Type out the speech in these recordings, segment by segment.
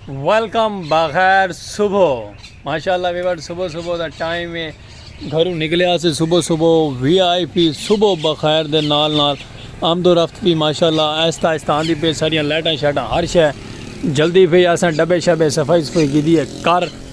Welcome بغیر صبح ماشاءاللہ ویور صبح صبح دا ٹائم ہے گھروں نکلیا سے صبح صبح وی آئی پی صبح بخیر دے نال نال آمد و رفت بھی ماشاءاللہ آہستہ آہستہ آندی پہ ساریاں لائٹاں شائٹاں ہر شے جلدی پہ اساں ڈبے شبے صفائی صفائی کی دی ہے کر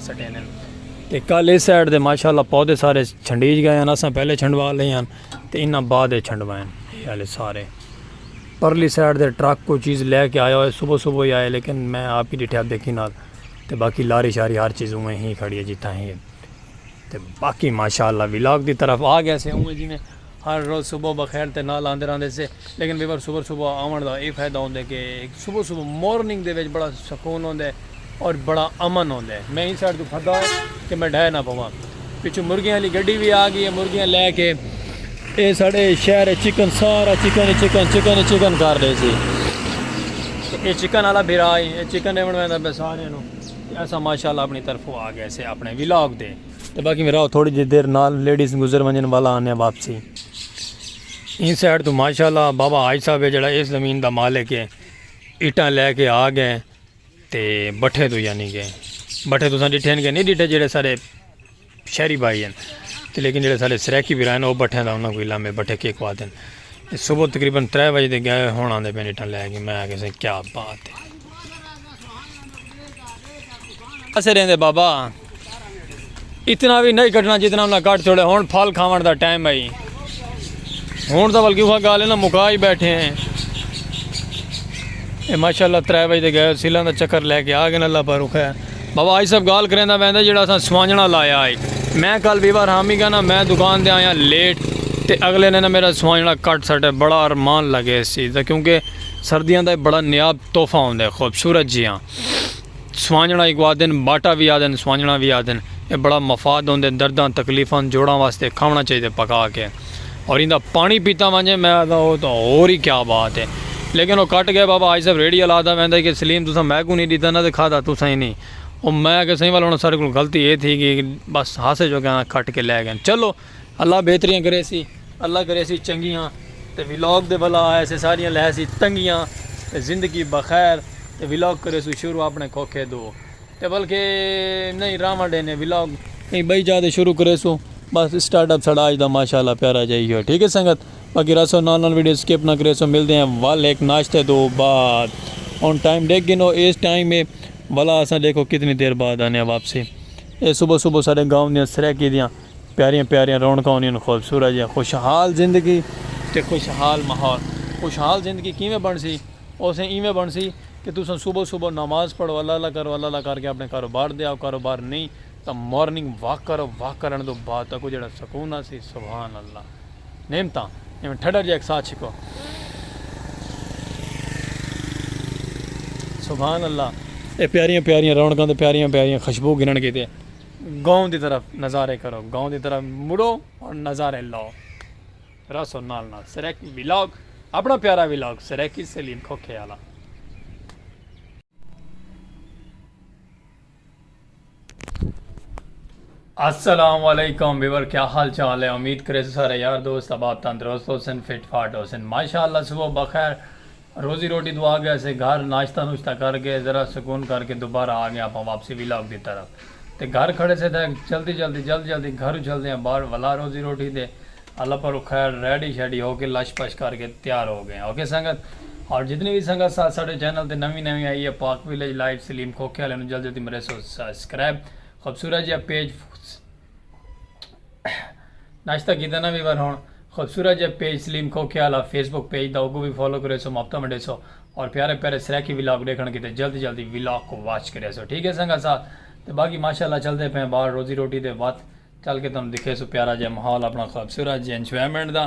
سٹے نے تے کل اس سائیڈ دے ماشاءاللہ پودے سارے چھنڈیج گئے ہیں اساں پہلے چھنڈوا لے ہیں تے انہاں بعد چھنڈوائیں یہ والے سارے پرلی سائیڈ دے ٹرک کوئی چیز لے کے آیا ہوئے صبح صبح ہی آئے لیکن میں آپ ہی ڈٹھے آپ دیکھی نال تے باقی لاری شاری ہر چیز اوے ہی کھڑی ہے جتھا ہی ہے تے باقی ماشاءاللہ ولاگ دی طرف آ گیا سے اوے جی میں ہر روز صبح بخیر تے نال آندے رہندے سے لیکن ویور صبح صبح آون دا اے فائدہ ہوندے کہ ہک صبح صبح مورننگ دے وچ بڑا سکون ہوندے اور بڑا امن ہوندے میں ایں سائیڈ توں پھدا ہاں کہ میں ڈھے نہ پواں پچھوں مرغیاں آلی گڈی وی آ گئی اے مرغیاں لے کے اے ساڈے شہر اچ چکن سارا چکن ہی چکن چکن ہی چکن کر ڈے سی اے چکن آلا بھرا اے چکن ڈیون ویندا پے سارے نو اساں ماشاءاللہ اپنی طرفوں آ گئے سے اپنے ولاگ تے۔ تے باقی میں راو تھوڑی جی دیر نال لیڈیز گزر ونجن والا آنیا واپسی این سائیڈ تو ماشاءاللہ بابا حاج صاحب ہے جڑا اس زمین دا مالک ہے اٹاں لے کے آ گئے تے بٹھے تو یعنی کہ بٹھے تو سن ڈٹھے نہیں ڈٹھے جڑے سارے شہری بھائی ہیں تے لیکن جڑے سارے سریکی بھی رہن وہ بٹھے دا انہاں کوئی لامے بٹھے کے کو آتے ہیں صبح تقریبا ترے بجے دے گئے ہونا دے پہ اٹاں لے کے میں آگے سے کیا بات ہے اسے رہندے بابا اتنا بھی نہیں کٹنا جتنا انہیں کٹ چھوڑے ہون پھل کھاون دا ٹائم ہے ہون دا بلکہ وہ گالے نا مکائی بیٹھے ہیں اے ماشاءاللہ ترے بھائی دے گئے سیلان دا چکر لے کے آگے اللہ پر رکھے ہیں بابا آئی سب گال کریں دا بیندے جڑا سا سوانجنا لایا آئی میں کل بھی بار ہامی گا نا میں دکان دے آیا لیٹ تے اگلے نے نا میرا سوانجنا کٹ سٹے بڑا ارمان لگے سی کیونکہ سردیاں دا اے بڑا نیاب تحفہ ہوندے خوبصورت جیاں سوانجنڑا اکوں آدھن باٹا وی آدھن سوانجنڑا وی آدھن اے بڑا مفاد ہوندے درداں تکلیفاں جوڑاں واسطے کھاونڑا چاہیدے پکا کے اور ایندا پانڑی پیتا ونجے میں آدھا او تاں ہور ای کیا بات اے لیکن او کٹ گئے بابا حاجی صاحب ریڑھی آلا آدھا ویندا ہی کہ سلیم تساں میں کوں نی ڈیتا نا تے کھادا تساں ہی نی او میں آکھیا سائیں والا ہن اساڈے کولوں غلطی اے تھی گئی بس ہاسے جو کہنا کٹ کے لے گئے چلو اللہ بہتریاں کریسی اللہ کریسی چنگیاں تے ولاگ دے بھلا آئے سے ساریاں لہیسی تنگیاں تے زندگی بخیر تے ولاگ کریسو شروع اپنے کھوکھے دو تے بلکہ نہیں راواں ڈینے ولاگ کہیں بئی جا دے شروع کریسو بس سٹارٹ اپ سڑا آج دا ماشاءاللہ پیارا جائی ہوئے ٹھیک ہے سنگت باقی رسو نال نال ویڈیو سکپ نہ کریسو مل دے ہیں وال ایک ناشتے دو بعد ان ٹائم دیکھ گنو اس ٹائم میں والا اساں دیکھو کتنی دیر بعد آنے ہیں واپسی اے صبح صبح سارے گاؤں دیاں سریکی دیاں پیاریاں پیاریاں رونقاں ہوندیاں خوبصورت جیاں خوشحال زندگی تے خوشحال ماحول خوشحال زندگی کیویں بنڑسی اوسے ایویں بنڑسی کہ تساں صبح صبح نماز پڑھو اللہ اللہ کرو اللہ اللہ کر کے اپنے کاروبار دے آؤ کاروبار نئیں تاں مارننگ واک کرو واک کرن دو بعد تکو جڑا سکون آسی سبحان اللہ نعمتاں ایویں ٹھڈا جیا اک ساہ چھکو سبحان اللہ اے پیاریاں پیاریاں رونقاں تے پیاریاں پیاریاں خوشبو گھنن کیتے۔ گاؤں دی طرف نظارے کرو گاؤں دی طرف مڑو اور نظارے لو رسو نال نال سرائیکی ولاگ اپنا پیارا ولاگ سرائیکی سلیم کھوکھے آلا السلام علیکم بیور کیا حال چال ہے امید کرے سارے یار دوست اباب تندرست ہو سن فٹ فاٹ ہو سن ماشاءاللہ صبح بخیر روزی روٹی توں آ گئے سے گھر ناشتہ نوشتہ کر کے ذرا سکون کر کے دوبارہ آ گئے آپاں واپسی ولاگ دی طرف تے گھر کھڑے سے تھے جلدی جلدی جلد جلدی گھروں چلدے آں باہر ولا روزی روٹی دے اللہ پروں خیر ریڈی شیڈی ہو کے لش پش کر کے تیار ہو گئے اوکے سنگت اور جتنی وی سنگت ساتھ ساڈے چینل تے نوی نوی آئی ہے پاک ویلیج لائف سلیم کھوکھے آلے نو جلد جلدی مریسو سسکرائب خوبصورت جیہا پیج ناشتہ کیتا نہ ویور ہون خوبصورت جے پیج سلیم کھوکھے والا فیس بک پیج دا اوکو وی فالو کرے سو محبتاں ونڈے سو اور پیارے پیارے سرائیکی ولاگ ڈیکھن کیتے جلدی جلدی ولاگ کو واچ کرے سو ٹھیک ہے سنگا سا تے باقی ماشاءاللہ چلدے پے باہر روزی روٹی دے وات چل کے تانوں دکھے سو پیارا جے ماحول اپنا خوبصورت جے انجوائمنٹ دا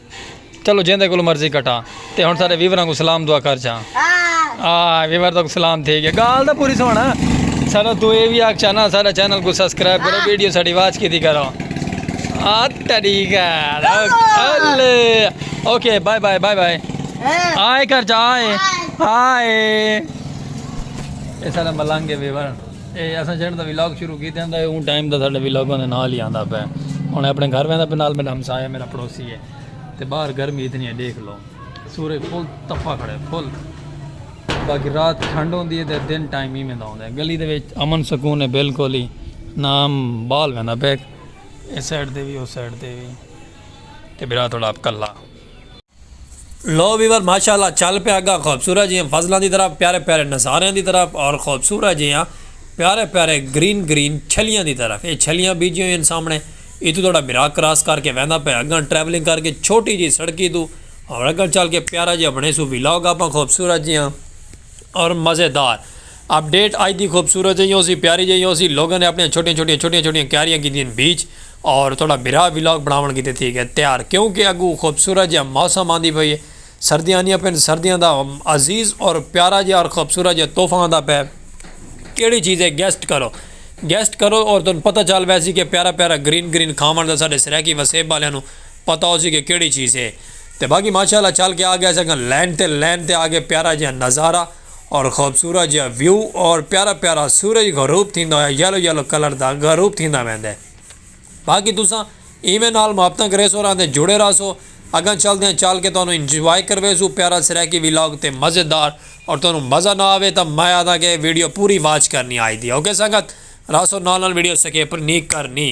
چلو جیندے کولوں مرضی کٹاں تے ہن سارے ویوراں کوں سلام دعا کر چھاں۔ آ ویور تاں سلام تھی گیا گال تاں پوری سن سارا توں اے وی آکھ چھانا سارا چینل کوں سبسکرائب کرو ویڈیو ساڈی واچ کیتی کرو آ تیڈی گال الے okay bye bye bye bye آئے کر جا آئے آئے اے سارا ملنگ اے ویور اے اساں جنہاں دا ولاگ شروع کیتے ہوندا ہے اون ٹائم دا ساڈے ولاگاں دے نال ہی آندا پے ہن اپنے گھر ویندا پے نال میرا ہمسایہ میرا پڑوسی ہے تے باہر گرمی اتنی ہے دیکھ لو سورج فل تپا کھڑے فل باقی رات ٹھنڈ ہوندی ہے تے دن ٹائم ہی میں دا ہوندا ہے گلی دے وچ امن سکون ہے بالکل ہی نام بال ویندا پے اس سائیڈ تے وی اس سائیڈ تے وی تے برا تھوڑا اپ کلا لو ویور ماشاء اللہ چل پیا گا خوبصورت جیاں فصلاں دی طرف پیارے پیارے نظاریاں دی طرف اور خوبصورت جیاں پیارے پیارے گرین گرین چھلیاں دی طرف اے چھلیاں بیجیاں ہوئیں سامنے اے تو تھوڑا برا کراس کر کے ویندا پیا اگاں ٹریولنگ کر کے چھوٹی جی سڑکی تو اور اگاں چل کے پیارا جی اپنے سو ویلاگ آپاں خوبصورت جیاں اور مزیدار اپ ڈیٹ آئی دی خوبصورت جیاں اسی پیاری جیاں اسی لوگوں نے اپنے چھوٹیاں چھوٹیاں چھوٹیاں چھوٹیاں کیاریاں کی دین بیچ اور تہاڈا بھرا ولاگ بناون کیتے تھی گئے تیار کیونکہ اگو خوبصورت جیہا موسم آندی پئی ہے سردیاں آندیاں پین سردیاں دا عزیز اور پیارا جیہا اور خوبصورت جیہا تحفہ آندا پیا کیڑی چیز ہے گیسٹ کرو گیسٹ کرو اور تہاڈو پتہ چل ویسی کہ پیارا پیارا گرین گرین کھاون دا ساڈے سرائیکی وسیب آلیاں نو پتہ ہوسی کہ کیڑی چیز ہے تے باقی ماشاءاللہ چل کے آ گئے اساں لین تے لین تے آ گئے پیارا جیہا نظارہ۔ اور خوبصورت جیہا ویو اور پیارا پیارا سورج غروب تھیندا ہویا یلو یلو کلر دا غروب تھیندا ویندے باقی تساں ایویں نال محبتاں کریسو اور آندے جڑے راہسو اگاں چلدیاں چل کے تہانوں انجوائے کرویسوں پیارا سرائیکی ولاگ تے مزیدار اور تہانوں مزہ نہ آوے تاں میں آہداں کے ویڈیو پوری واچ کرنی آئی دی اوکے سنگت راہسو نال نال ویڈیو سکیپ نی کرنی۔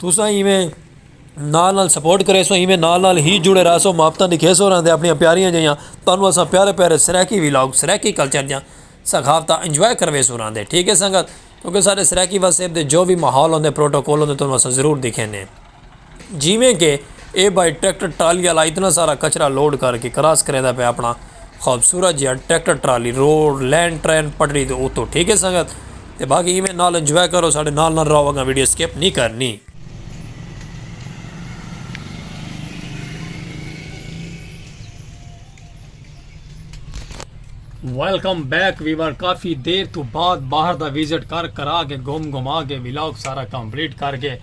تساں ایویں نال نال سپورٹ کریسو ایویں نال نال ہی جڑے رہسو محبتاں دکھیسو رہندے اپنی پیاریاں جیاں تانوں اساں پیارے پیارے سرائیکی ولاگ سرائیکی کلچر دیاں ثقافتاں انجوائے کرویسو رہندے ٹھیک ہے سنگت کیونکہ سارے سرائیکی وسیب دے جو بھی ماحول ہوندے پروٹوکول ہوندے تانوں اساں ضرور دکھینے جیویں کہ اے بھائی ٹریکٹر ٹرالی والا اتنا سارا کچرا لوڈ کر کے کراس کریندا پہ اپنا خوبصورت جیہاں tractor trolley road lane train پٹری دے اتو ٹھیک ہے سنگت تے باقی ایویں نال انجوائے کرو ساڈے نال نال رہو اگاں ویڈیو سکپ نی کرنی۔ ویلکم بیک ویور کافی دیر تو بعد باہر دا وزٹ کر کرا کے گھوم گھما کے ولاگ سارا کمپلیٹ کر کے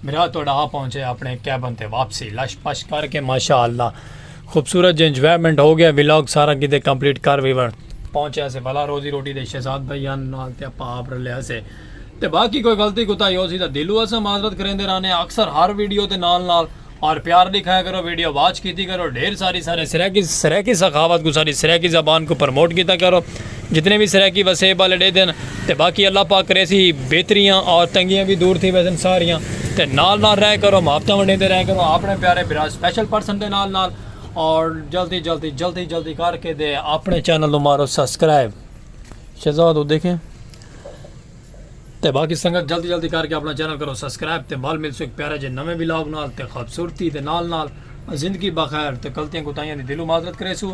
میرا تہاڈا آ پہنچے اپنے کیبن تے واپسی لش پش کر کے ماشاءاللہ خوبصورت جے انجوائمنٹ ہو گیا ولاگ سارا کیتے کمپلیٹ کر وی ون پہنچیا سے بھلا روزی روٹی دے شہزاد بھائی ان نال تے اپا آپ رلیا سے تے باقی کوئی غلطی کوتا یو سی دا دلو اسا معذرت کریندے رانے اکثر ہر ویڈیو دے نال نال اور پیار دکھایا کرو ویڈیو واچ کیتی کرو ڈھیر ساری سارے سرائیکی سرائیکی سخاوت کو ساری سرائیکی زبان کو پروموٹ کیتا کرو جتنے وی سرائیکی وسیب والے ڈیہہ دن تے باقی اللہ پاک کریسی بہتریاں اور تنگیاں وی دور تھی ویسن ساریاں تے نال نال رہ کرو محبتاں ونڈیندے رہ کرو اپنے پیارے برا سپیشل پرسن دے نال نال اور جلدی جلدی جلدی جلدی کر کے دے اپنے چینل نو مارو سبسکرائب شہزاد ہو دیکھیں تے باقی سنگت جلدی جلدی کر کے اپنا چینل کرو سبسکرائب تے مال مل سو ایک پیارا جے نویں ولاگ نال تے خوبصورتی دے نال نال زندگی بخیر تے غلطیاں کوتاہیاں دی دلو معذرت کریسو